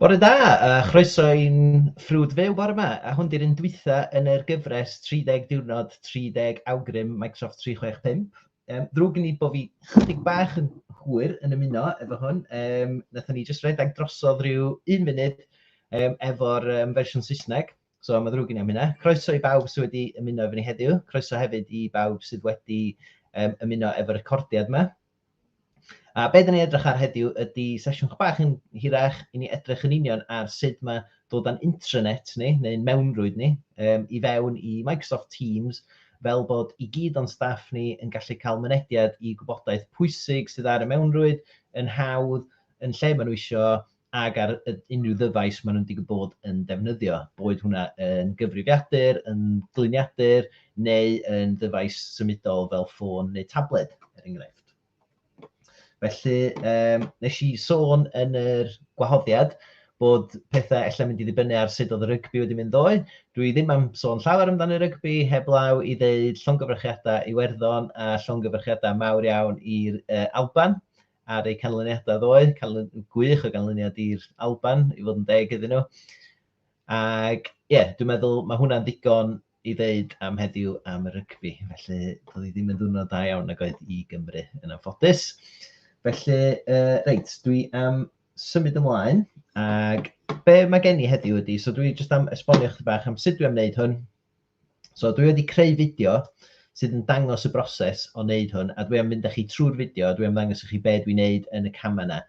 Bore da a chroeso i'n ffrwd fyw bore ma. A hwn di'r un dwytha yn yr gyfres 30 diwrnod 30 awgrym Microsoft 365. Um, ddrwg gen i bod fi chydig bach yn hwyr yn ymuno efo hwn. Um, Nathon ni jyst redeg drosodd rhyw un munud um, efo'r um, fersiwn Saesneg. So mae'n ddrwg gen i am hynna. Croeso i bawb sydd wedi ymuno efo ni heddiw. Croeso hefyd i bawb sydd wedi um, ymuno efo'r recordiad yma. A be dyn ni edrych ar heddiw ydy sesiwn chydig bach yn hirach i ni edrych yn union ar sut mae dod â'n intranet ni, neu'n mewnrwyd ni, um, i fewn i Microsoft Teams fel bod i gyd o'n staff ni yn gallu cael mynediad i gwybodaeth pwysig sydd ar y mewnrwyd yn hawdd yn lle maen nhw eisiau ag ar unrhyw ddyfais maen nhw'n digwydd bod yn defnyddio, boed hwnna yn gyfrifiadur, yn gliniadur, neu yn ddyfais symudol fel ffôn neu tabled, er enghraifft. Felly, um, nes i sôn yn yr gwahoddiad bod pethau ella'n mynd i ddibynnu ar sut oedd y rygbi wedi mynd ddoe. Dwi ddim am sôn llawer amdano rygbi, heblaw i ddeud llongyfrychiadau Iwerddon a llongyfrychiadau mawr iawn i'r uh, Alban ar eu canlyniadau ddoe, canlyn... gwych o ganlyniad i'r Alban, i fod yn deg iddyn nhw. Ac ie, yeah, dwi'n meddwl mae hwnna'n ddigon i ddeud am heddiw am y rygbi. Felly, doedd hi ddim yn ddwrnod da iawn nag oedd i Gymru yn anffodus. Felly, uh, reit, dwi am symud ymlaen. Ac be mae gen i heddiw ydy, so dwi jyst am esbonio chdi bach am sut dwi am wneud hwn. So dwi wedi creu fideo sydd yn dangos y broses o wneud hwn, a dwi am mynd â chi trwy'r fideo, a dwi am ddangos i chi be dwi'n wneud yn y camau yna.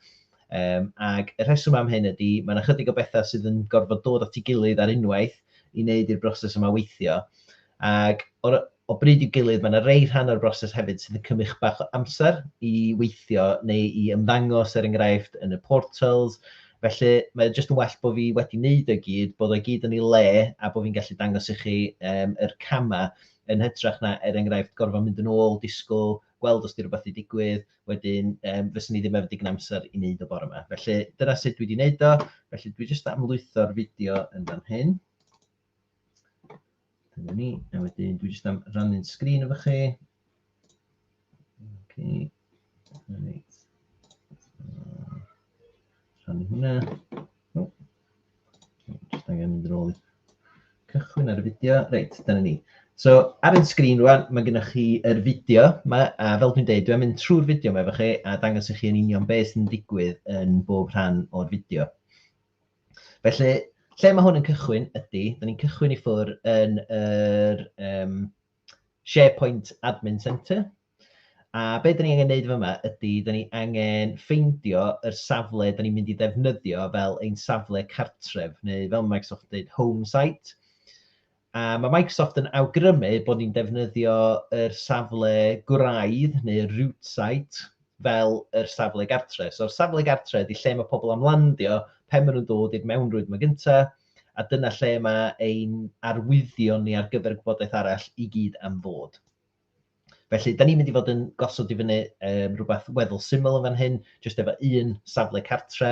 Um, ac y rheswm am hyn ydy, mae yna chydig o bethau sydd yn gorfod dod at ei gilydd ar unwaith i wneud i'r broses yma weithio. Ac o, o bryd i'w gilydd, mae yna rei rhan o'r broses hefyd sydd yn cymryd bach o amser i weithio neu i ymddangos, er enghraifft, yn y portals, Felly, mae o jyst yn well bod fi wedi wneud o i gyd, bod o i gyd yn ei le, a bod fi'n gallu dangos i chi um, yr camau, yn hytrach na, er enghraifft, gorfod mynd yn ôl, disgwyl, gweld os di rhywbeth wedi digwydd, wedyn um, fyswn i ddim efo digon amser i wneud o bore yma. Felly, dyna sut dwi wedi wneud o, felly dwi jyst am lwytho'r fideo yn fan hyn. Dyna ni. A wedyn dwi jyst am rannu'n sgrin efo chi. Okay. Right. Rhannu hwnna. Oh. Jyst angen mynd yn ôl i cychwyn ar y fideo. Reit, dyna ni. So, ar y sgrin rwan, mae gennych chi yr fideo yma, a fel dwi'n dweud, dwi'n mynd trwy'r fideo yma efo chi a dangos i chi yn union beth sy'n digwydd yn bob rhan o'r fideo. Felly, lle mae hwn yn cychwyn ydy, da ni'n cychwyn i ffwr yn yr um, SharePoint Admin Centre. A be da ni angen neud yma ydy, da ni angen ffeindio yr safle da ni'n mynd i ddefnyddio fel ein safle cartref, neu fel Microsoft dweud, home site. A mae Microsoft yn awgrymu bod ni'n defnyddio yr safle gwraidd neu root site fel yr safle gartre. So'r safle gartre ydy lle mae pobl am landio pen maen nhw'n dod i'r mewnrwyd yma gynta, a dyna lle mae ein arwyddion ni ar gyfer gwybodaeth arall i gyd am fod. Felly, da ni'n mynd i fod yn gosod i fyny um, rhywbeth weddol syml yn fan hyn, jyst efo un safle cartre,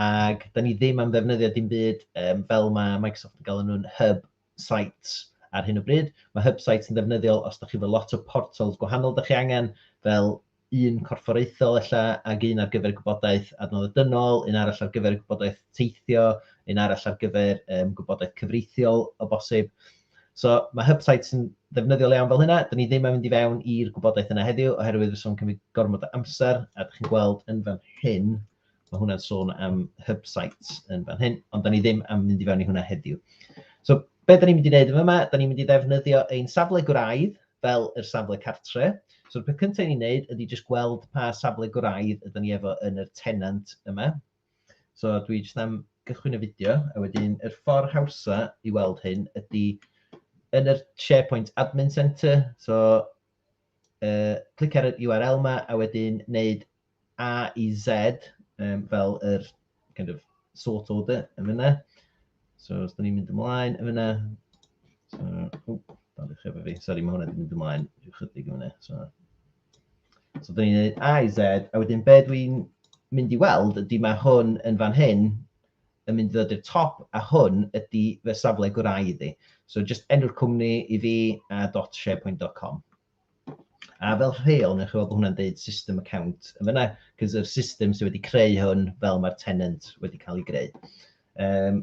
ac da ni ddim am ddefnyddio dim byd um, fel mae Microsoft yn galw nhw'n hub sites ar hyn o bryd. Mae hub sites yn ddefnyddiol os da chi efo lot o portals gwahanol da chi angen, fel un corfforaethol ella, ac un ar gyfer y gwybodaeth adnoddau dynol, un arall ar gyfer y gwybodaeth teithio, un arall ar gyfer um, gwybodaeth cyfreithiol o bosib. So mae hub sites yn ddefnyddiol iawn fel hynna. Dyn ni ddim yn mynd i fewn i'r gwybodaeth yna heddiw oherwydd fydd o'n cymryd gormod o amser a dych chi'n gweld yn fan hyn Mae hwnna'n sôn am hub sites yn fan hyn, ond da ni ddim am mynd i fewn i hwnna heddiw. So, be da ni'n mynd i wneud yma? Da ni'n mynd i ddefnyddio ein safle gwraidd fel yr safle cartre. So'r peth cyntaf ni'n wneud ydy jyst gweld pa safle gwraidd ydyn ni efo yn yr tenant yma. So dwi jyst am gychwyn y fideo, a wedyn yr ffordd hawsa i weld hyn ydy yn yr SharePoint Admin Centre, so uh, clic ar yr URL yma a wedyn wneud A i Z um, fel yr kind of sort order yn fyna. So os da ni'n mynd ymlaen yn fyna, so, o, dan ddechrau efo fi, sori mae hwnna wedi mynd ymlaen rhyw chydig yn fyna. So, so da ni'n neud A i Z, a wedyn be dwi'n mynd i weld ydy mae hwn yn fan hyn yn mynd i ddod i'r top a hwn ydy fe safle gwraidd i. So just enw'r cwmni i fi a dot sharepoint.com. A fel rheol, newch chi weld bod hwnna'n deud system account yn fyna, cos yr system sydd wedi creu hwn fel mae'r tenant wedi cael ei greu. Um,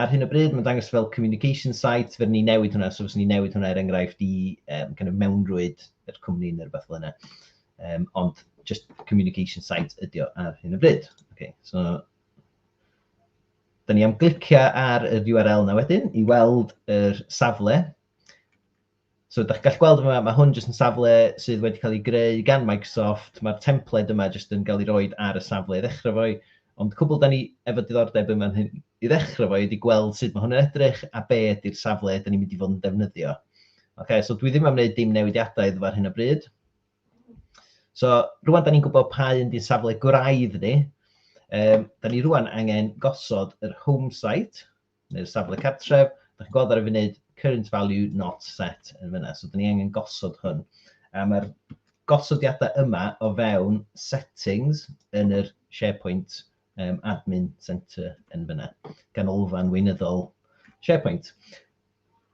ar hyn o bryd, mae'n dangos fel communication site, fe ni newid hwnna, so fes ni newid hwnna er enghraifft i um, kind of mewnrwyd yr cwmni neu rhywbeth fel yna. Um, ond just communication site ydi o ar hyn o bryd. Okay, so Dyna ni am glicio ar y URL na wedyn i weld yr safle So dach chi'n gallu gweld yma, mae hwn jyst yn safle sydd wedi cael ei greu gan Microsoft, mae'r templed yma jyst yn cael ei roed ar y safle i ddechrau fo i, ond cwbl da ni efo diddordeb yn fan hyn i ddechrau fo i ydy gweld sut mae hwn yn edrych a be ydy'r safle da ni'n mynd i fod yn defnyddio. Ok, so dwi ddim am wneud dim newidiadau iddo fo ar hyn o bryd. So rwan da ni'n gwybod pa un di'n safle gwraidd ni, um, da ni rwan angen gosod yr home site, neu'r safle cartref, da chi'n gweld ar y funud current value not set yn fyna, so da ni angen gosod hwn. A mae'r gosodiadau yma o fewn settings yn yr SharePoint um, admin centre yn fyna, ganolfan weinyddol SharePoint.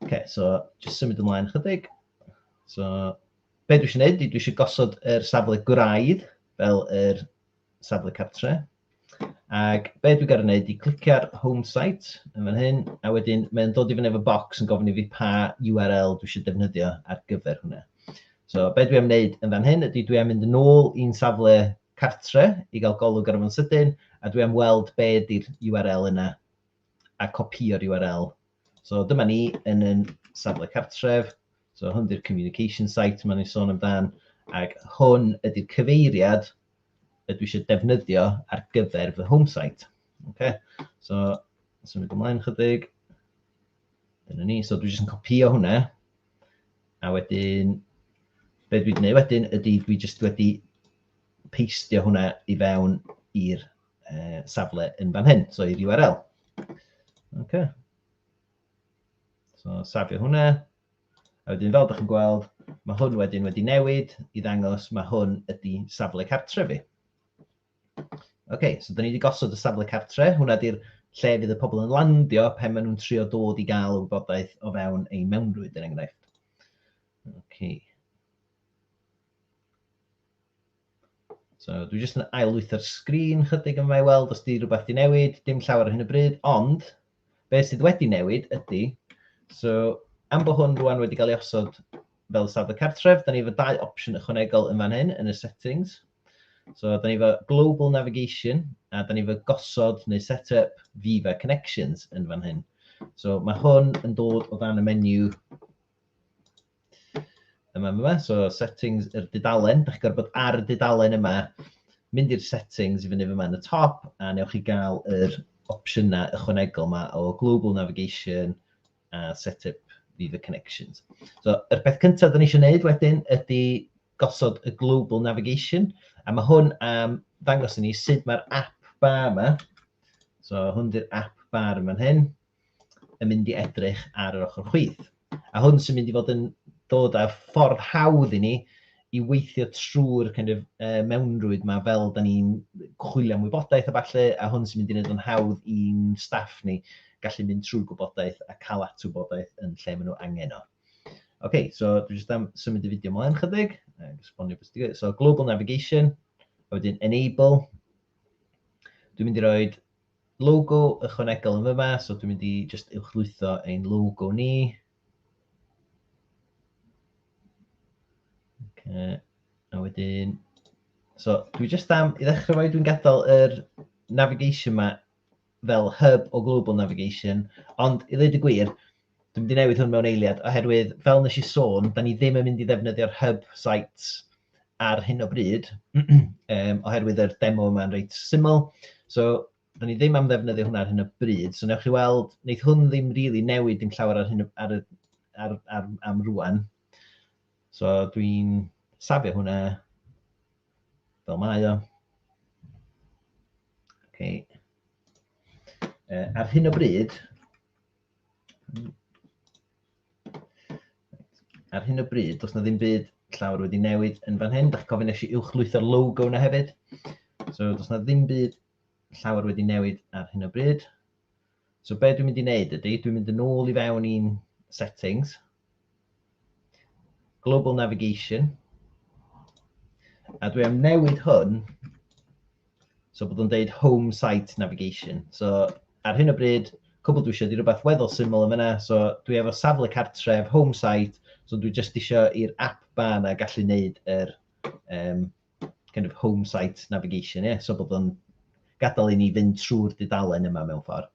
OK, so just symud ymlaen chydig. So, be dwi eisiau gwneud, dwi eisiau gosod yr safle gwraidd fel yr safle cartre. Ac be dwi'n gael ei wneud i clicio ar home site yn fan hyn, a wedyn mae'n dod i fyny efo box yn gofyn i fi pa URL dwi eisiau defnyddio ar gyfer hwnna. So be dwi am wneud yn fan hyn ydy dwi am mynd yn ôl i'n safle cartre i gael golwg ar y fo'n sydyn, a dwi am weld be ydy'r URL yna a copïo'r URL. So dyma ni yn yn safle cartref, so hwn di'r communication site maen ni'n sôn amdan, ac hwn ydy'r cyfeiriad y dwi eisiau defnyddio ar gyfer fy home site. Okay? So, symud ymlaen chydig. Dyna ni, so dwi jyst yn copïo hwnna, a wedyn, be dwi'n gwneud wedyn ydy dwi jyst wedi peistio hwnna i fewn i'r uh, safle yn fan hyn, so i'r URL. Okay. So safio hwnna. A wedyn fel ydych chi'n gweld, mae hwn wedyn wedi newid i ddangos mae hwn ydy safle cartre fi. OK, so da ni wedi gosod y safle cartre. Hwna di'r lle fydd y pobl yn landio pan maen nhw'n trio dod i gael y wybodaeth o fewn ei mewnrwyd, yn er enghraifft. OK. So, dwi jyst yn ailwytho'r sgrin chydig yma i weld os di rhywbeth di newid, dim llawer ar hyn o bryd, ond beth sydd wedi newid ydy, so am bod hwn rwan wedi cael ei osod fel safle cartref, da ni efo dau opsiwn ychwanegol yn fan hyn yn y settings. So, da ni efo global navigation a da ni efo gosod neu set up Viva connections yn fan hyn. So, mae hwn yn dod o dan y menu Yma, yma, yma. So settings yr dudalen. Da chi'n gorfod bod ar y dudalen yma. Mynd i'r settings i fyny fyma yn y top a newch chi gael yr opsiynau ychwanegol yma o global navigation a set up Viva Connections. So, yr peth cyntaf da ni eisiau gwneud wedyn ydy gosod y global navigation a mae hwn am ddangos i ni sut mae'r app bar yma. So, hwn di'r app bar yma'n hyn. yn mynd i edrych ar yr ochr chwith. A hwn sy'n mynd i fod yn dod â'r ffordd hawdd i ni i weithio trwy'r kind of, uh, mewnrwyd yma fel da ni'n chwilio am wybodaeth a falle, a hwn sy'n mynd i wneud o'n hawdd i'n staff ni gallu mynd trwy'r gwybodaeth a cael at wybodaeth yn lle maen nhw angen o. OK, so dwi jyst am symud y fideo ymlaen chydig. So, global navigation, a wedyn enable. Dwi'n mynd i roi Logo ychwanegol yn fyma, so dwi'n mynd i jyst uwchlwytho ein logo ni. Okay. A wedyn, so dwi jyst am, i ddechrau fo, dwi'n gadael yr navigation ma fel hub o global navigation, ond i ddweud y gwir, Dwi'n mynd i newid hwn mewn eiliad, oherwydd fel nes i sôn, da ni ddim yn mynd i ddefnyddio'r hub sites ar hyn o bryd, um, oherwydd yr demo yma'n reit syml. So, da ni ddim am ddefnyddio hwnna ar hyn o bryd. So, newch chi weld, wneud hwn ddim rili really newid dim llawer ar hyn ar, ar, ar, am rwan. So, dwi'n safio hwnna fel mae o. Okay. Uh, ar hyn o bryd, Ar hyn o bryd, does na ddim byd llawr wedi newid yn fan hyn. Da chi'n cofyn eisiau uwchlwytho'r logo yna hefyd. So, does na ddim byd llawer wedi newid ar hyn o bryd. So be dwi'n mynd i wneud ydy, dwi'n mynd yn ôl i fewn i'n settings, Global Navigation. A dwi am newid hwn, so bod o'n deud Home Site Navigation. So ar hyn o bryd, cwbl dwi eisiau di rhywbeth weddol syml yn fyna, so dwi efo safle cartref, Home Site, so dwi jyst eisiau i'r app ba na gallu neud yr um, kind of home site navigation, yeah? so bod o'n gadael i ni fynd trwy'r dudalen yma mewn ffordd.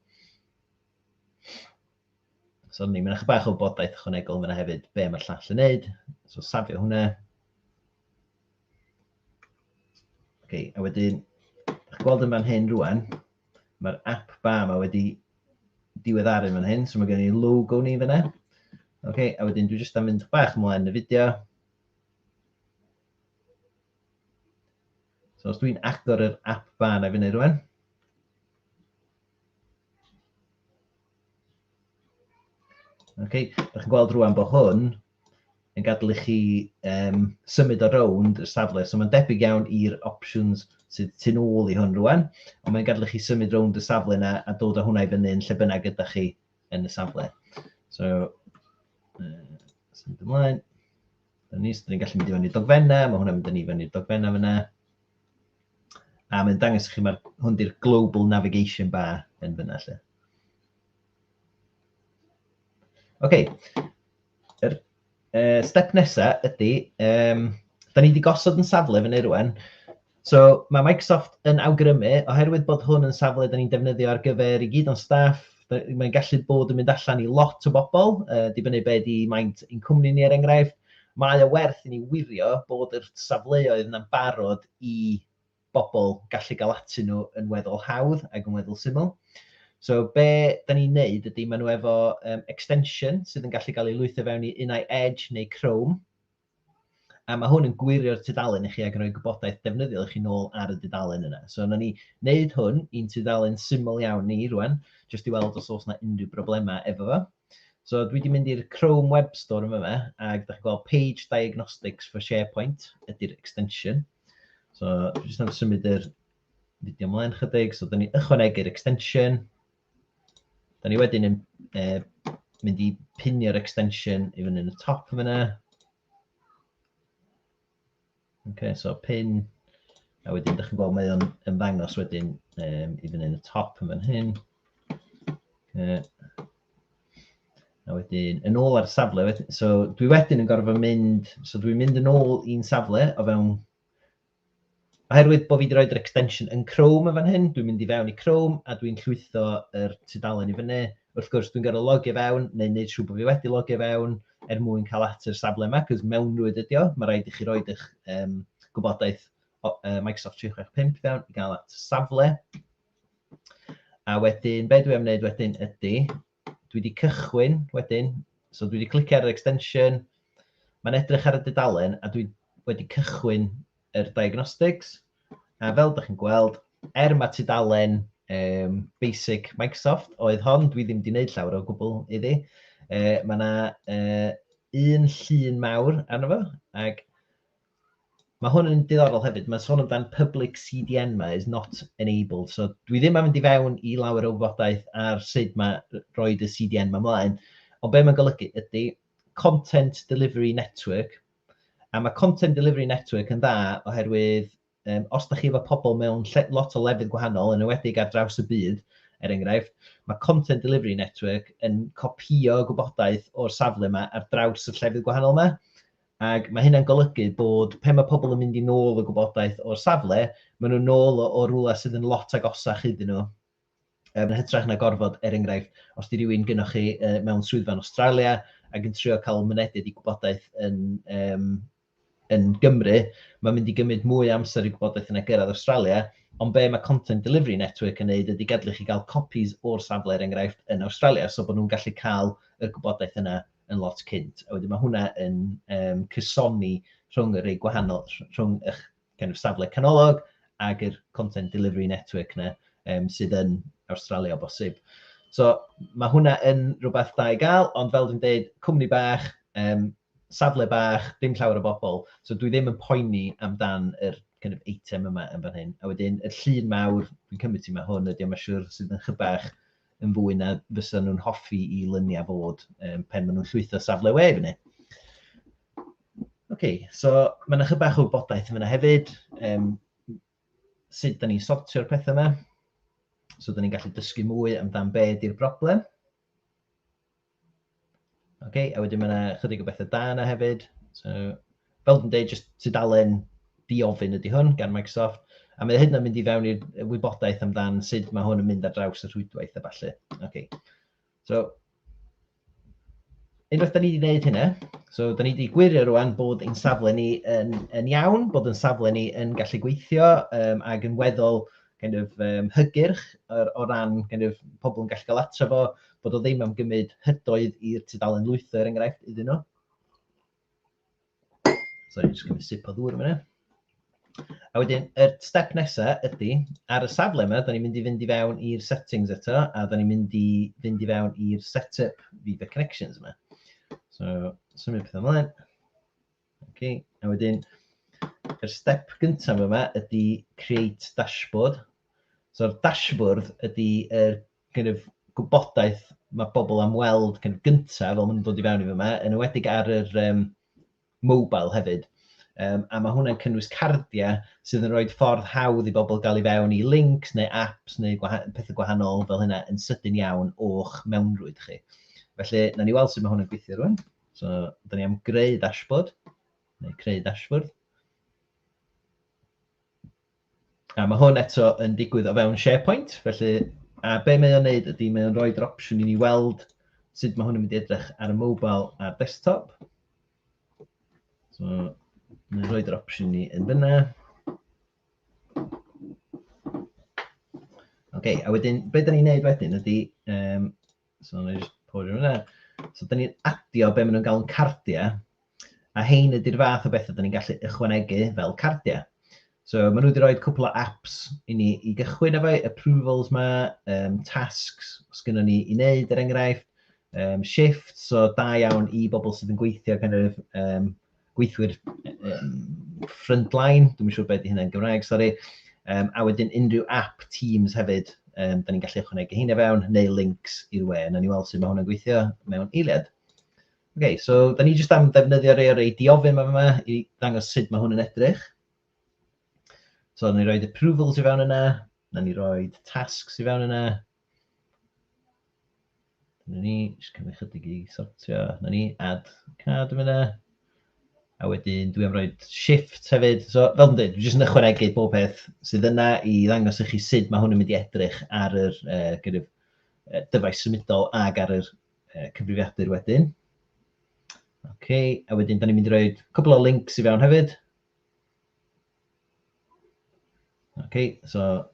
So ni, mae'n eich bach o bodaeth ychwanegol yna hefyd, be mae'r llall yn neud. So safio hwnna. Okay, a wedyn, ych gweld yn fan hyn rwan, mae'r app ba yma wedi diweddaru fan hyn, so mae gen i logo ni fyna. Okay, a wedyn dwi jyst am mynd bach ymlaen y fideo. So os dwi'n agor yr app ba yna fyny rwan, Okay. Dych chi'n gweld rwan bod hwn yn gadael i chi um, symud o rownd y safle. So mae'n debyg iawn i'r options sydd tu ôl i hwn rwan, ond mae'n gadael i chi symud rownd y safle yna a dod â hwnna i fyny yn lle bynnag gyda chi yn y safle. So, uh, symud ymlaen. Dyna ni, so ni'n gallu mynd i fyny dogfenna, mae hwnna'n mynd i fyny dogfenna fyna. A mae'n dangos i chi, mae hwn di'r Global Navigation Bar yn fyna lle. Ok, yr uh, step nesaf ydy, um, da ni wedi gosod yn safle fyny rwan. So mae Microsoft yn awgrymu, oherwydd bod hwn yn safle da ni'n defnyddio ar gyfer i gyd o'n staff, mae'n gallu bod yn mynd allan i lot o bobl, uh, dibynnu be di maint i'n cwmni ni er enghraifft. Mae o werth i ni wirio bod yr safleoedd yna'n barod i bobl gallu gael atyn nhw yn weddol hawdd ac yn weddol syml. So be da ni'n neud ydy maen nhw efo um, extension sydd yn gallu cael ei lwytho fewn i unau Edge neu Chrome. A mae hwn yn gwirio'r tudalen i chi ac yn rhoi gwybodaeth defnyddiol i chi nôl ar y dudalen yna. So na ni wneud hwn i'n tudalen syml iawn ni rwan, jyst i weld os oes yna unrhyw broblemau efo fo. So dwi wedi mynd i'r Chrome Web Store yma fe, ac da chi'n gweld Page Diagnostics for SharePoint ydy'r extension. So dwi jyst yn symud yr fideo ymlaen chydig, so da ni ychwanegu'r extension. Da ni wedyn yn e, mynd i pinio'r extension i fyny yn y top yma. Okay, so pin, a wedyn ydych chi'n gweld mae o'n ymddangos wedyn um, i fyny yn y top yn fan hyn. Okay. A wedyn, yn ôl ar y safle, wedyn, so dwi wedyn yn gorfod mynd, so dwi'n mynd yn ôl i'n safle o fewn, oherwydd bod fi wedi rhoi'r extension yn Chrome yn fan hyn, dwi'n mynd i fewn i Chrome a dwi'n llwytho yr tudalen i fyny. Wrth gwrs, dwi'n gorfod logio fewn, neu wneud siŵr bod fi wedi logio fewn, er mwyn cael at yr safle yma, cos mewnrwyd ydi o, mae rhaid i chi roed eich um, gwybodaeth o, uh, Microsoft 365 fewn i gael at safle. A wedyn, be dwi am wneud wedyn ydy, dwi wedi cychwyn wedyn, so dwi wedi clicio ar yr extension, mae'n edrych ar y dudalen a dwi wedi cychwyn yr diagnostics. A fel dych chi'n gweld, er mae tudalen um, basic Microsoft oedd hon, dwi ddim wedi gwneud llawer o gwbl iddi. Uh, mae yna uh, un llun mawr arno fo, ac Mae hwn yn diddorol hefyd. Mae'n sôn amdan public CDN ma is not enabled. So dwi ddim am fynd i fewn i lawer o wybodaeth ar sut mae roed y CDN ma mlaen. Ond be mae'n golygu ydy content delivery network, A mae Content Delivery Network yn dda oherwydd um, os da chi efo pobl mewn lle, lot o lefydd gwahanol, yn ywedig ar draws y byd, er enghraifft, mae Content Delivery Network yn copio gwybodaeth o'r safle yma ar draws y llefydd gwahanol yma. Ac mae hynna'n golygu bod pe mae pobl yn mynd i nôl y gwybodaeth o'r safle, maen nhw'n nôl o, o rwla sydd yn lot agosach iddyn nhw. Yn hytrach na gorfod, er enghraifft, os 'di rywun gynnoch chi mewn swyddfa yn Awstralia ac yn trio cael mynediad i gwybodaeth yn, um, yn Gymru, mae'n mynd i gymryd mwy amser i gwybodaeth yna gyrraedd Awstralia, ond be mae Content Delivery Network yn neud ydy gadlu chi gael copies o'r safle, er enghraifft, yn Awstralia, so bod nhw'n gallu cael y gwybodaeth yna yn lot cynt. A wedyn mae hwnna yn um, cysoni rhwng y rei gwahanol, rhwng eich kind of safle canolog ag yr content delivery network na um, sydd yn Awstralia o bosib. So mae hwnna yn rhywbeth da i gael, ond fel dwi'n dweud, cwmni bach, um, safle bach, dim llawer o bobl. So dwi ddim yn poeni amdan yr kind of item yma yn fan hyn. A wedyn, y llun mawr, dwi'n cymryd ti mae hwn, ydy mae'n siŵr sydd yn chybach yn fwy na fysa nhw'n hoffi i lyniau fod um, pen maen nhw'n llwytho safle we fyny. Oce, so mae yna chydig bach o wybodaeth yn yna hefyd, um, sut da ni'n sortio'r pethau yma, so da ni'n gallu dysgu mwy amdan be ydy'r broblem. Oce, a wedyn mae yna chydig o bethau da yna hefyd, so fel dwi'n dweud, jyst tudalen diofyn ydy hwn gan Microsoft, a mae hyn yn mynd i fewn i'r wybodaeth amdan sut mae hwn yn mynd ar draws y rhwydwaith a falle. Okay. So, unwaith da ni wedi gwneud hynna, so da ni wedi gwirio rwan bod ein safle ni yn, yn iawn, bod ein safle ni yn gallu gweithio um, ac yn weddol kind of, um, hygyrch or, o ran kind of, pobl yn gallu cael atro fo, bod o ddim am gymryd hydoedd i'r tudalen lwytho, er enghraifft, iddyn nhw. Sorry, jyst gymryd sip o ddŵr yma. A wedyn, y er step nesaf ydy, ar y safle yma, da ni'n mynd i fynd i fewn i'r settings eto, a da ni'n mynd i fynd i fewn i'r setup Viva Connections yma. So, symud pethau ymlaen. Okay. A wedyn, y er step gyntaf yma ydy create dashboard. So'r dashboard ydy y er kind of, gwybodaeth mae pobl am weld kind of, gyntaf, fel maen nhw'n dod i fewn i fyma, yn ywedig ar yr um, mobile hefyd. Um, a mae hwnna'n cynnwys cardiau sydd yn rhoi ffordd hawdd i bobl gael ei fewn i links neu apps neu gwaha pethau gwahanol fel hynna yn sydyn iawn o'ch mewnrwyd chi. Felly, na ni weld sut mae hwn yn gweithio rwan. So, da ni am greu dashboard, neu creu dashboard. A mae hwn eto yn digwydd o fewn SharePoint, felly a be mae o'n neud ydy mae o'n rhoi'r opsiwn i ni weld sut mae hwn yn mynd i edrych ar y mobile a'r desktop. So, mae'n rhoi'r opsiwn ni yn fyna. OK, a wedyn, be da ni'n neud wedyn ydy, um, So, na i jyst pori hwnna. So, da ni'n adio be maen nhw'n galw'n cardiau, a hein ydy'r fath o bethau da ni'n gallu ychwanegu fel cardiau. So, maen nhw wedi rhoi cwpl o apps i ni i gychwyn efo approvals ma, um, tasks, os gynnu ni i wneud, er enghraifft, um, shift, so da iawn i bobl sydd yn gweithio kind of, um, gweithwyr um, frontline, dwi'n siŵr beth i hynny'n Gymraeg, sori, um, a wedyn unrhyw app Teams hefyd, um, da ni'n gallu ychwanegu hyn fewn, neu links i'r we, na ni weld sut mae hwnna'n gweithio mewn eiliad. OK, so da ni jyst am ddefnyddio rei o'r ei diofyn yma yma i ddangos sut mae hwn yn edrych. So, da ni roed approvals i fewn yna, da ni roed tasks i fewn yna, Dyna ni, jyst cymryd chydig i sortio. Dyna ni, add card yn fyna. A wedyn dwi am roi shift hefyd. So, fel dwi'n dweud, dwi jyst yn ychwanegu bob peth sydd yna i ddangos i chi sut mae hwn yn mynd i edrych ar yr uh, kind of, uh, dyfais symudol ag ar yr uh, cyfrifiadur wedyn. OK, a wedyn da ni'n mynd i roi cwbl o links i fewn hefyd. Okay, so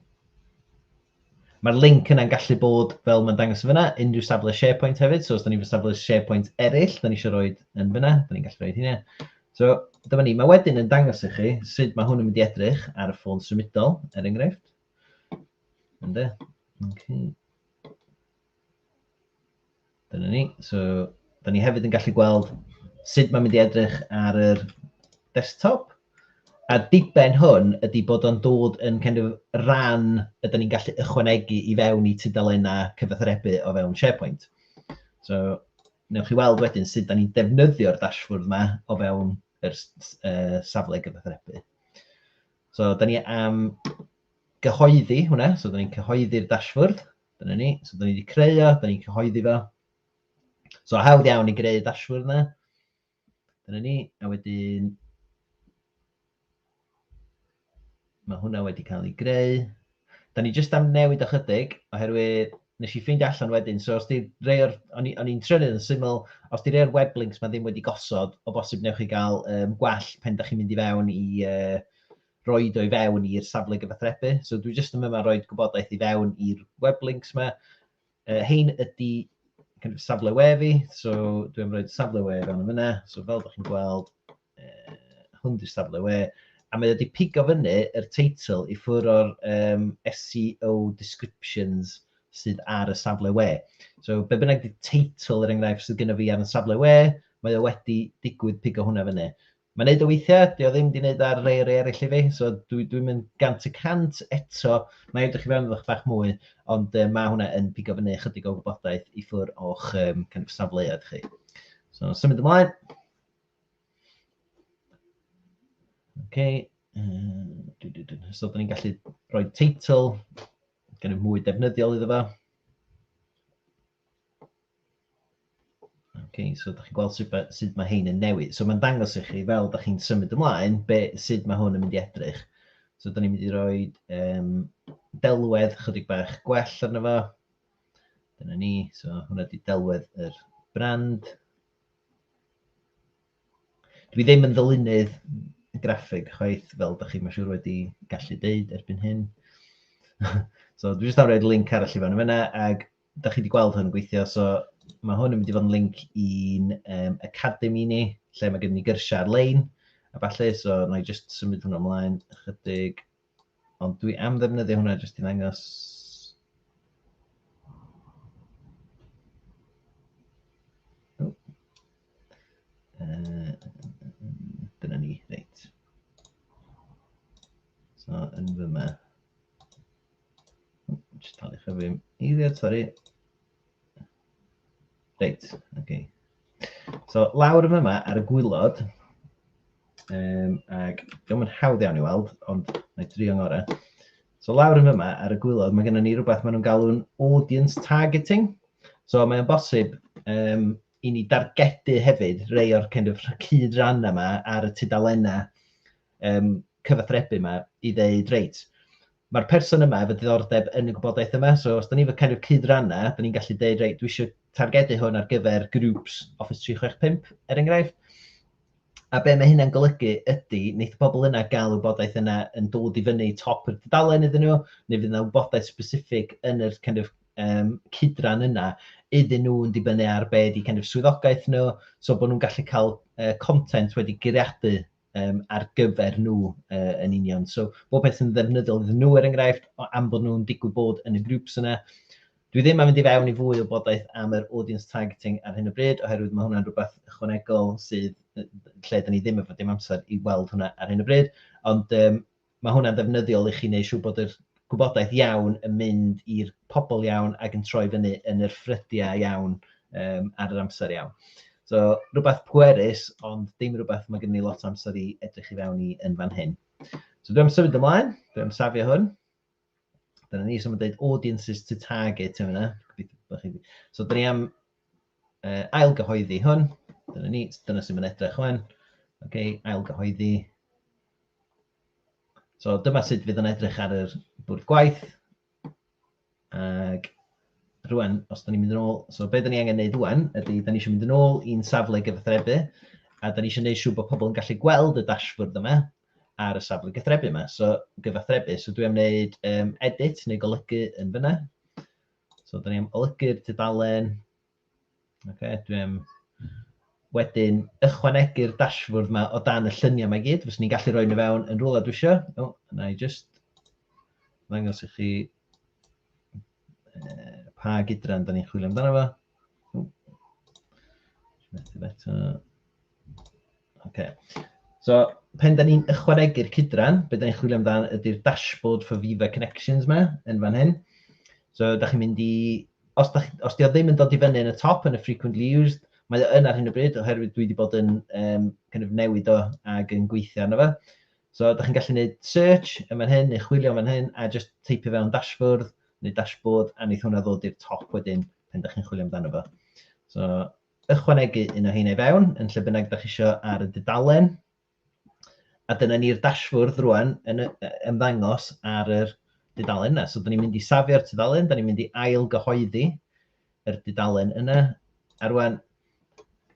Mae'r link yna'n gallu bod fel mae'n dangos yn fyna, unrhyw safle SharePoint hefyd. So os da ni'n fy safle SharePoint eraill, da ni eisiau rhoi yn fyna, da ni'n gallu rhoi hynny. So dyma ni, mae wedyn yn dangos i chi sut mae hwn yn mynd i edrych ar y ffôn symudol, er enghraifft. Ynde? Okay. Dyna ni. So, da ni hefyd yn gallu gweld sut mae'n mynd i edrych ar yr desktop. A diben hwn ydy bod o'n dod yn kind of ran ydyn ni'n gallu ychwanegu i fewn i tudalennau cyfathrebu o fewn SharePoint. So, newch chi weld wedyn sut da ni'n defnyddio'r dashboard yma o fewn yr uh, safle gyfathrebu. So, da ni am gyhoeddi hwnna, so da ni'n cyhoeddi'r dashboard. Dyna ni. So, da ni wedi creu o, da ni'n cyhoeddi fo. So, hawdd iawn i greu dashboard yna. Dyna ni. A wedyn... Mae hwnna wedi cael ei greu. Da ni jyst am newid ychydig, oherwydd nes i ffeindio allan wedyn, so os di rei o'r, o'n i'n trio yn syml, os di rei o'r web links mae ddim wedi gosod, o bosib newch chi gael um, gwell pen da chi'n mynd i fewn i, uh, roid o i fewn i'r safle gyfathrebu. So dwi jyst yn yma roed gwybodaeth i fewn i'r web links ma. Uh, hein ydy kind of safle we fi, so dwi am roed safle we fewn yn fyna. So fel ydych chi'n gweld, uh, hwn di'r safle we. A mae wedi pigo fyny yr teitl i ffwr o'r um, SEO descriptions sydd ar y safle we. So be bynnag di teitl yr er enghraifft sydd gyda fi ar y safle we, mae o wedi digwydd pigo hwnna fyny. Mae'n neud o weithiau, dio ddim di neud ar rei rei eraill i fi, so dwi dwi'n mynd gant y cant eto, na i edrych i fewn iddo'ch bach mwy, ond uh, mae hwnna yn pigo fyny ychydig o wybodaeth i ffwr o'ch um, kind of safleoedd chi. So, symud ymlaen. Okay. Uh, so, da ni'n gallu rhoi teitl, gen i mwy defnyddiol iddo fo. Okay, so da chi'n gweld sut, sut mae hein yn newid. So mae'n dangos i chi, fel da chi'n symud ymlaen, be, sut mae hwn yn mynd i edrych. So da ni'n mynd i roi um, delwedd chydig bach gwell arno fo. Dyna ni, so hwnna di delwedd yr brand. Dwi ddim yn ddylunydd graffeg chwaith, fel da chi'n siŵr wedi gallu deud erbyn hyn. so dwi jyst am roi'r link arall i fan yna, ac da chi wedi gweld hwn yn gweithio, so mae hwn yn mynd i fod yn link i'n um, academy ni, lle mae gen ni gyrsiau ar-lein, a falle, so na i just symud hwnna ymlaen ychydig, ond dwi am ddefnyddio hwnna jyst i'n angos dyna ni, reit. So, yn fyma. Just talu chi fi eiliad, sori. Reit, oce. Okay. So, lawr yn yma ar y gwylod, um, ac ddim yn hawdd iawn i weld, ond na i drio ngorau. So, lawr yn yma ar y gwylod, mae gennym ni rhywbeth maen nhw'n galw'n audience targeting. So, mae'n bosib um, i ni dargedu hefyd rei o'r kind of cyd ran yma ar y tudalennau um, cyfathrebu yma i ddeud, reit, Mae'r person yma efo diddordeb yn y gwybodaeth yma, so os 'da ni efo kind of cyd-ranna, 'da ni'n gallu deud reit dwi isio targedu hwn ar gyfer groups Office 365 er enghraifft. A be mae hynna'n golygu ydy, neith y pobl yna gael y wybodaeth yna yn dod i fyny top y dudalen iddyn nhw, neu fydd yna wybodaeth specific yn yr kind of um, cydran yna iddyn nhw yn dibynnu ar be ydy kind of swyddogaeth nhw, so bod nhw'n gallu cael uh, content wedi giriadu um, ar gyfer nhw uh, yn union. So, bob peth yn ddefnyddiol iddyn nhw, er enghraifft, am bod nhw'n digwydd bod yn y grwps yna. Dwi ddim am fynd i fewn i fwy o bodaeth am yr audience targeting ar hyn o bryd, oherwydd mae hwnna'n rhywbeth ychwanegol sydd lle dyn ni ddim efo dim amser i weld hwnna ar hyn o bryd. Ond um, Mae hwnna'n ddefnyddiol i chi wneud siŵr bod yr gwybodaeth iawn yn mynd i'r pobl iawn ac yn troi fyny yn yr ffrydiau iawn um, ar yr amser iawn. So, rhywbeth pwerus, ond dim rhywbeth mae gen i lot o amser i edrych i fewn i yn fan hyn. So, dwi'n symud ymlaen, dwi'n safio hwn. Dyna ni, so mae'n dweud audiences to target yma. So dyna ni am uh, ailgyhoeddi hwn. Dyna ni, dyna sy'n mynd edrych hwn. Oce, okay, ailgyhoeddi. So dyma sut fydd yn edrych ar yr bwrdd gwaith. Ac rwan, os da ni'n mynd yn ôl, so beth da ni angen neud rwan ydy, da ni eisiau mynd yn ôl i'n safle gyfathrebu, a da ni eisiau neud siŵr bod pobl yn gallu gweld y dashboard yma, ar y safle gythrebu yma. So gyfathrebu, so dwi am wneud um, edit neu golygu yn fyna. So da ni am olygu'r tudalen. Okay, dwi am wedyn ychwanegu'r dashboard yma o dan y lluniau mae gyd. Fes ni'n gallu rhoi nhw fewn yn rhywle dwi eisiau. O, na i just ddangos i chi pa gydran da ni'n chwilio amdano fo. Okay. So, pen da ni'n ychwanegu'r cydran, beth da ni'n chwilio amdano ydy'r dashboard for Viva Connections yma, yn fan hyn. So, da chi'n mynd i... Os, da, os di o ddim yn dod i fyny yn y top, yn y frequently used, mae o yn ar hyn o bryd, oherwydd dwi wedi bod yn um, kind of newid o ag yn gweithio arno fe. So, ydych chi'n gallu gwneud search yn fan hyn, neu chwilio yn fan hyn, a jyst teipio fewn dashboard, neu dashboard, a wneith hwnna ddod i'r top wedyn pan ydych chi'n chwilio amdano fo. So, ychwanegu un o heina i fewn, yn lle bynnag ydych chi eisiau ar y dudalen. A dyna ni'r dashboard rwan yn ymddangos ar yr dudalen yna. So, da ni'n mynd i safio'r tudalen, da ni'n mynd i ail gyhoeddi, yr dudalen yna. A rwan,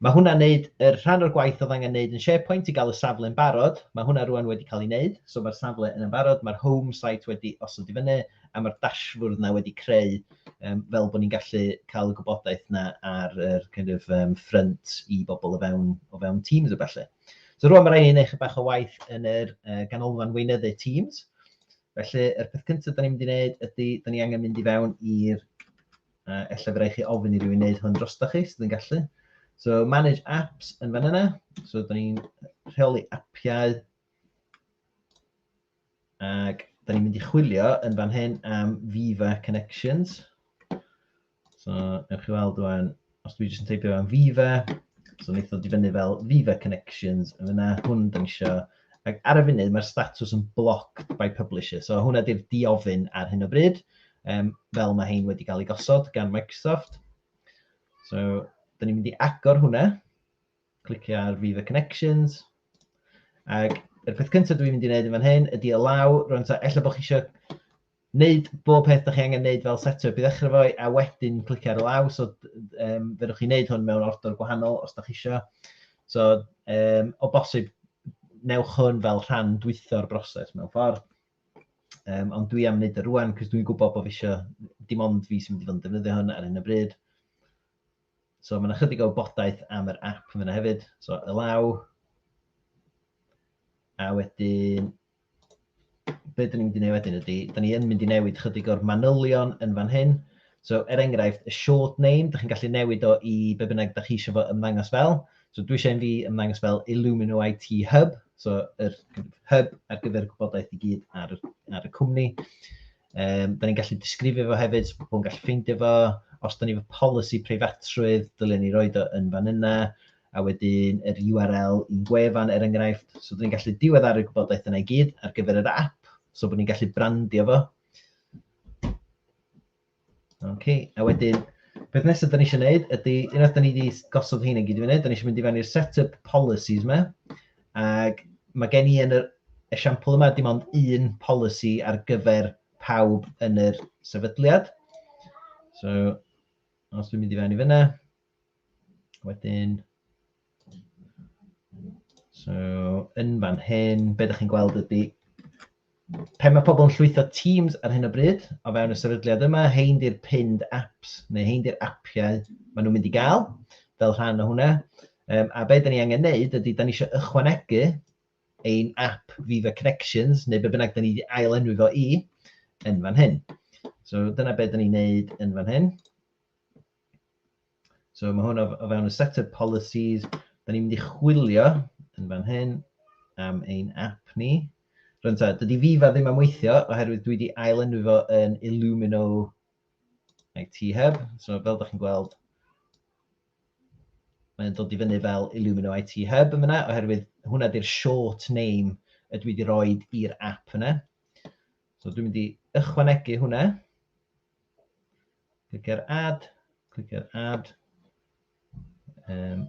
mae hwnna'n neud yr rhan o'r gwaith oedd angen neud yn SharePoint i gael y safle yn barod. Mae hwnna rwan wedi cael ei wneud, so mae'r safle yn barod, mae'r home site wedi osod i fyny, a mae'r dashfwrdd yna wedi creu um, fel bod ni'n gallu cael y gwybodaeth yna ar yr kind of, um, ffrynt i bobl o fewn, o fewn Teams o felly. So rwan mae rhaid i ni wneud bach o waith yn yr uh, ganolfan weinyddu Teams. Felly, yr peth cyntaf da ni'n mynd i wneud ydy, da ni angen mynd i fewn i'r A ella fydda chi ofyn i rywun wneud hwn drosto chi, sydd yn gallu. So, manage apps yn fan yna. So, da ni'n rheoli appiau. Ac da ni'n mynd i chwilio yn fan hyn am Viva Connections. So, ewch chi weld rwan, os dwi jyst yn teipio am Viva, so wnaeth ddod i fyny fel Viva Connections yn yna, hwn da ni eisiau Ac ar y funud mae'r statws yn blocked by publisher. So hwnna di'r diofyn ar hyn o bryd, um, fel mae hein wedi cael ei gosod gan Microsoft. So, da ni'n mynd i agor hwnna. Clicio ar Viva Connections. Ac y peth cyntaf dwi'n mynd i wneud yn fan hyn ydy y law, rwy'n ta, efallai bod chi eisiau Wneud bob peth dach chi angen wneud fel set up i ddechrau fo, a wedyn clicio ar y law, so um, fedrwch chi wneud hwn mewn ordor gwahanol os da chi eisiau. So, um, o bosib, newch hwn fel rhan dwytho'r broses mewn ffordd. Um, ond dwi am wneud y rwan, cos dwi'n gwybod bod fi eisiau, dim ond fi sy'n mynd i fod yn defnyddio hwn ar hyn y bryd. So mae'n ychydig o wybodaeth am yr app yn fyna hefyd. So y law. A wedyn be dyn ni'n mynd i wneud wedyn ydy, dyn ni yn mynd i newid chydig o'r manylion yn fan hyn. So, er enghraifft, y short name, dych chi'n gallu newid o i be bynnag dych chi eisiau fo ymddangos fel. So, dwi eisiau fi ymddangos fel Illumino IT Hub, so yr hub ar gyfer gwybodaeth i gyd ar, ar y cwmni. Um, da ni'n gallu disgrifio fo hefyd, so pobl yn gallu ffeindio fo. Os da ni fo polisi preifatrwydd, dylen ni roi o yn fan yna. A wedyn yr URL i'n gwefan er enghraifft. So da ni'n gallu diweddaru'r gwybodaeth yna i gyd ar gyfer yr app. So bod ni'n gallu brandio fo. Okay. A wedyn, beth nesaf da ni eisiau gwneud ydy, unwaith da ni wedi gosod hyn yn gyd i fyny, da ni eisiau mynd i fewn i'r setup policies yma. Ac mae gen i yn yr esiampl yma dim ond un polisi ar gyfer pawb yn yr sefydliad. So, os dwi'n mynd i fewn i fyna, wedyn... So, yn fan hyn, be ydych chi'n gweld ydy Pe mae pobl yn llwytho Teams ar hyn o bryd, o fewn y sefydliad yma, hein di'r pinned apps, neu hein di'r appiau maen nhw'n mynd i gael fel rhan o hwnna. Um, a be da ni angen neud ydy, da ni eisiau ychwanegu ein app Viva Connections, neu be bynnag da ni wedi ail enwi fo i, yn fan hyn. So dyna beth da ni'n neud yn fan hyn. So mae hwn o, o fewn y set of policies. Da ni'n mynd i chwilio yn fan hyn am ein app ni. Rwy'n ta, dydy Viva ddim am weithio oherwydd dwi wedi ailenwi fo yn Illumino IT Hub. So fel da chi'n gweld, mae'n dod i fyny fel Illumino IT Hub yn fyna, oherwydd hwnna di'r short name y dwi wedi rhoi i'r app yna. So dwi'n mynd i ychwanegu hwnna. Clic ar add, clic ar add. Um,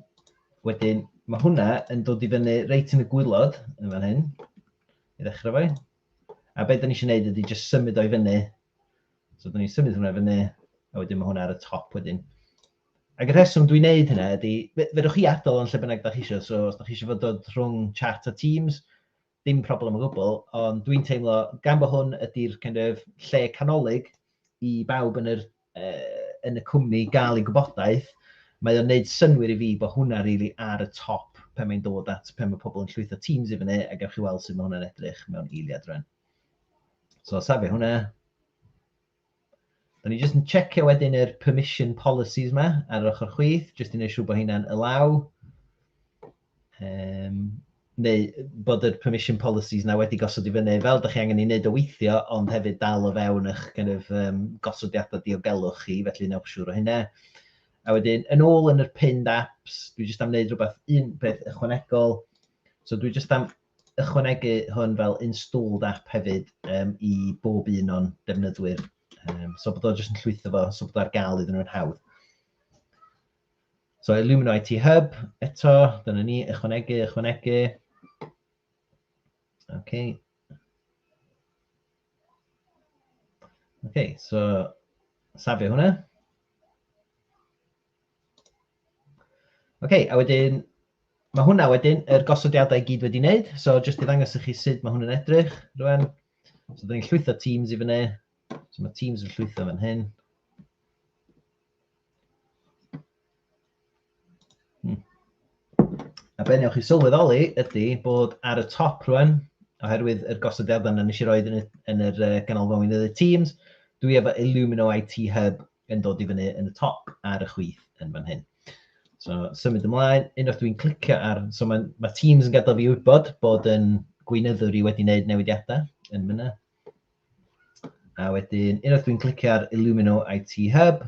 wedyn, mae hwnna yn dod i fyny reit yn y gwylod yn fan hyn, i ddechrau fo. A beth da ni eisiau gwneud ydy jyst symud o'i fyny. So, da ni'n symud hwnna fyny, a wedyn mae hwnna ar y top wedyn. Ac y rheswm dwi'n neud hynna ydy, fe, fedrwch chi adael yn lle bynnag da chi eisiau, so os da chi eisiau fod dod rhwng chat a Teams, Dim problem o gwbl, ond dwi'n teimlo gan bod hwn ydy'r kind of lle canolig i bawb yn yr eh yn y cwmni gael eu gwybodaeth, mae o'n neud synnwyr i fi bod hwnna rili ar y top pan mae'n dod at pan mae pobl yn llwytho teams i fyny a gewch chi weld sut mae hwnna'n edrych mewn eiliad rwan. So safio hwnna. O'n i jyst yn checio wedyn yr permission policies ma ar yr ochr chwith, jyst i wneud siŵr bod hynna'n alaw. Um, neu bod yr permission policies na wedi gosod i fyny fel ydych chi angen ei wneud o weithio, ond hefyd dal o fewn eich kind of, um, gosodiadau diogelwch chi, felly newch siŵr o hynna. A wedyn, yn ôl yn yr pinned apps, dwi jyst am wneud rhywbeth un peth ychwanegol. So dwi jyst am ychwanegu hwn fel installed app hefyd um, i bob un o'n defnyddwyr. Um, so bod o jyst yn llwytho fo, so bod o ar gael iddyn nhw'n hawdd. So Illumino IT Hub, eto, dyna ni, ychwanegu, ychwanegu. OK. OK, so safio hwnna. Ok, a wedyn mae hwnna wedyn, yr gosodiadau i gyd wedi wneud. So jyst i ddangos i chi sut mae hwn yn edrych rwan. So dyn ni'n llwytho Teams i fyny. So mae Teams yn llwytho fan hyn. Hmm. A be newch chi sylweddoli ydy bod ar y top rwan, oherwydd yr gosodiadau yna nes i roed yn y, yn yr uh, ganolfan weinyddau Teams, dwi efo Illumino IT Hub yn dod i fyny yn y top ar y chwith yn fan hyn. So, symud ymlaen, unwaith dwi'n clicio ar... So, mae, mae Teams yn gadael fi wybod bod yn gweinyddwr i wedi wneud newidiadau yn fyna. A wedyn, unwaith dwi'n clicio ar Illumino IT Hub,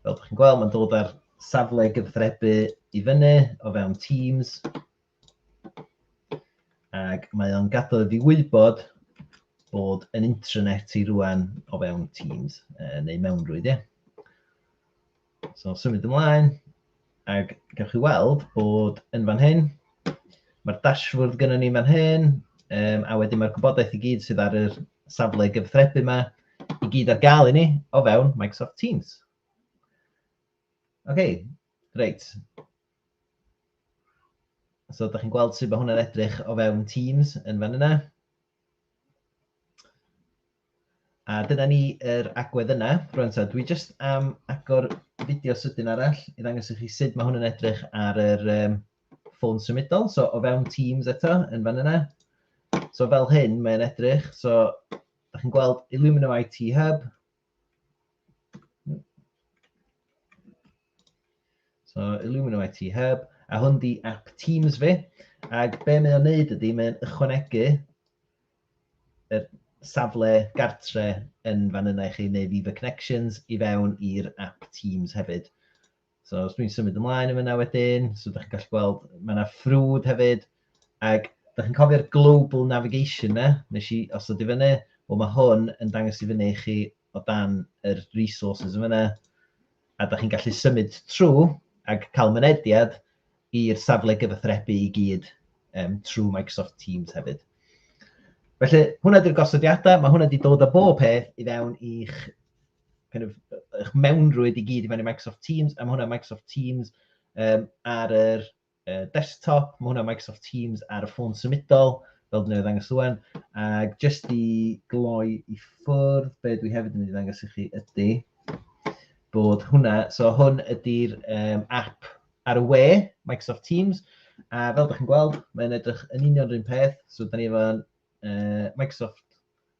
fel ydych chi'n gweld, mae'n dod ar safle gyfathrebu i fyny o fewn Teams. Ac mae o'n gadael iddi wybod bod yn intranet i rwan o fewn Teams, uh, neu mewnrwyd, ie. Yeah. So, symud ymlaen, ac gawch chi weld bod yn fan hyn, mae'r dashboard gyda ni fan hyn, um, a wedyn mae'r gwybodaeth i gyd sydd ar yr safle gyfthrebu yma i gyd ar gael i ni o fewn Microsoft Teams. OK, reit. So, da chi'n gweld sut mae hwnna'n edrych o fewn Teams yn fan yna. A dyna ni yr agwedd yna. Rwy'n so, dwi jyst am agor fideo sydyn arall i ddangos i chi sut mae hwn yn edrych ar yr um, ffôn symudol. So, o fewn Teams eto, yn fan yna. So, fel hyn, mae'n edrych. So, da chi'n gweld Illumino IT Hub, So, Illumino IT Hub, a hwn di app Teams fi. Ac be mae o'n neud ydy, mae'n ychwanegu y safle gartre yn fan yna i chi, neu Viva Connections, i fewn i'r app Teams hefyd. So os dwi'n symud ymlaen yn fyna wedyn, so ydych chi'n gallu gweld, mae yna ffrwd hefyd, ac ydych chi'n cofio'r global navigation na, nes i os ydy fyny, wel mae hwn yn dangos i fyny i chi o dan yr resources yn fyna, a ydych chi'n gallu symud trwy ac cael mynediad i'r safle gyfathrebu i gyd um, trwy Microsoft Teams hefyd. Felly, hwnna ydy'r gosodiadau, mae hwnna wedi dod â bob peth i fewn i'ch kind of, eich mewnrwyd i gyd i mewn i Microsoft Teams, a mae hwnna Microsoft Teams um, ar yr uh, desktop, mae hwnna Microsoft Teams ar y ffôn symudol, fel dwi'n ei ddangos rwan, ac jyst i gloi i ffwrdd, be dwi hefyd yn ei ddangos i chi ydy bod hwnna, so hwn ydy'r um, app ar y we, Microsoft Teams, a fel ydych chi'n gweld, mae'n edrych yn union rhywun peth, so da ni efo'n uh, Microsoft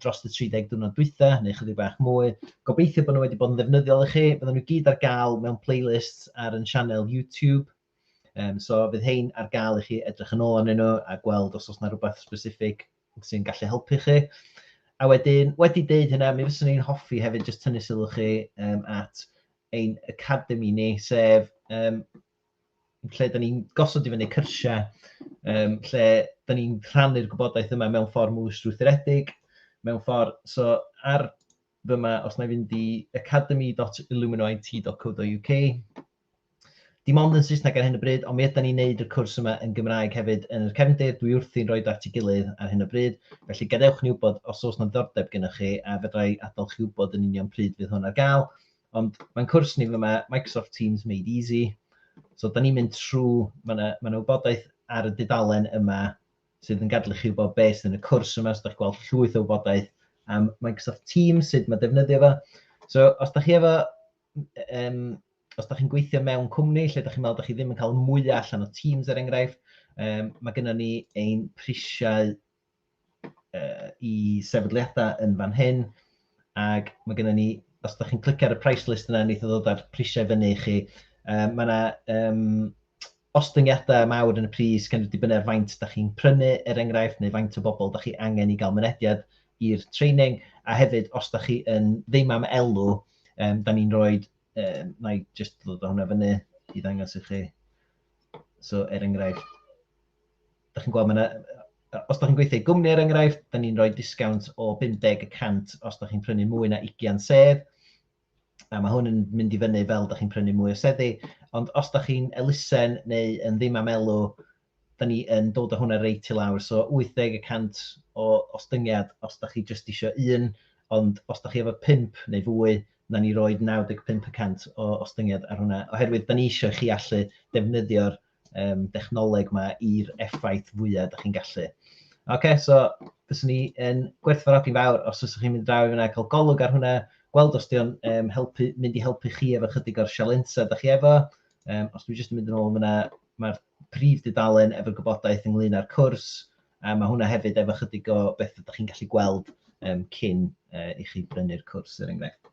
dros y 30 diwrnod dwytha, neu chydig bach mwy. Gobeithio bod nhw wedi bod yn ddefnyddiol i chi. Bydden nhw gyd ar gael mewn playlists ar yn sianel YouTube. Um, so fydd hein ar gael i chi edrych yn ôl arnyn nhw a gweld os oes yna rhywbeth specific sy'n gallu helpu chi. A wedyn, wedi deud hynna, mi fyswn i'n hoffi hefyd jyst tynnu sylw chi um, at ein academy ni, sef um, lle da ni'n gosod i fyny cyrsiau, um, lle da ni'n rhannu'r gwybodaeth yma mewn ffordd mwy strwythuredig, mewn ffordd, so ar fyma, os na i fynd i academy.illuminit.co.uk, dim ond yn Saesneg ar hyn o bryd, ond mi ydy ni'n neud y cwrs yma yn Gymraeg hefyd yn yr cefndir, dwi wrthi'n rhoi at ei gilydd ar hyn o bryd, felly gadewch ni wybod os oes na ddordeb gennych chi a fedrai adael chi wybod yn union pryd fydd hwn ar gael, Ond mae'n cwrs ni fyma, Microsoft Teams Made Easy. So, da ni'n mynd trwy, mae yna, ma yna wybodaeth ar y dudalen yma sydd yn gadlu chi wybod beth sydd yn y cwrs yma, so da chi'n gweld llwyth o wybodaeth am Microsoft Teams, sut mae defnyddio fo. So, os da chi efo, um, os da chi'n gweithio mewn cwmni lle da chi'n meddwl da chi ddim yn cael mwyach allan o Teams er enghraifft, um, mae gennym ni ein prisiau uh, i sefydliadau yn fan hyn, ac mae gennym ni, os ydych chi'n clicio ar y price list yna, wneud ddod â'r prisiau fyny i chi. Um, mae yna um, ostyngiadau mawr yn y pris gan dibynnu ar faint da chi'n prynu, er enghraifft, neu faint o bobl da chi angen i gael mynediad i'r training, a hefyd os da chi yn ddim am elw, um, da ni'n rhoi, um, na i just ddod o hwnna fyny i ddangos i chi. So, er enghraifft, Dach chi'n gweld, mae yna... os dach chi'n gweithio i gwmni er enghraifft, da ni'n rhoi disgownt o 50 y cant os dach chi'n prynu mwy na 20 sedd, a mae hwn yn mynd i fyny fel dach chi'n prynu mwy o seddi, ond os dach chi'n elusen neu yn ddim am elw, da ni yn dod â hwnna reit i lawr, so 80 y cant o ostyngiad os dach chi jyst isio un, ond os dach chi efo pump neu fwy, na ni roid 95 y cant o ostyngiad ar hwnna, oherwydd da ni isio i chi allu defnyddio'r um, dechnoleg yma i'r effaith fwyaf ydych chi'n gallu. Oce, okay, so fyswn ni yn gwerthfarogi'n fawr os ydych chi'n mynd draw i fyna cael golwg ar hwnna, gweld os di'n um, helpu, mynd i helpu chi efo chydig o'r sialensa ydych chi efo. Um, os dwi'n jyst yn mynd yn ôl fyna, mae'r prif dudalen efo gwybodaeth ynglyn â'r cwrs, a mae hwnna hefyd efo chydig o beth ydych chi'n gallu gweld um, cyn uh, i chi brynu'r cwrs, er enghraifft.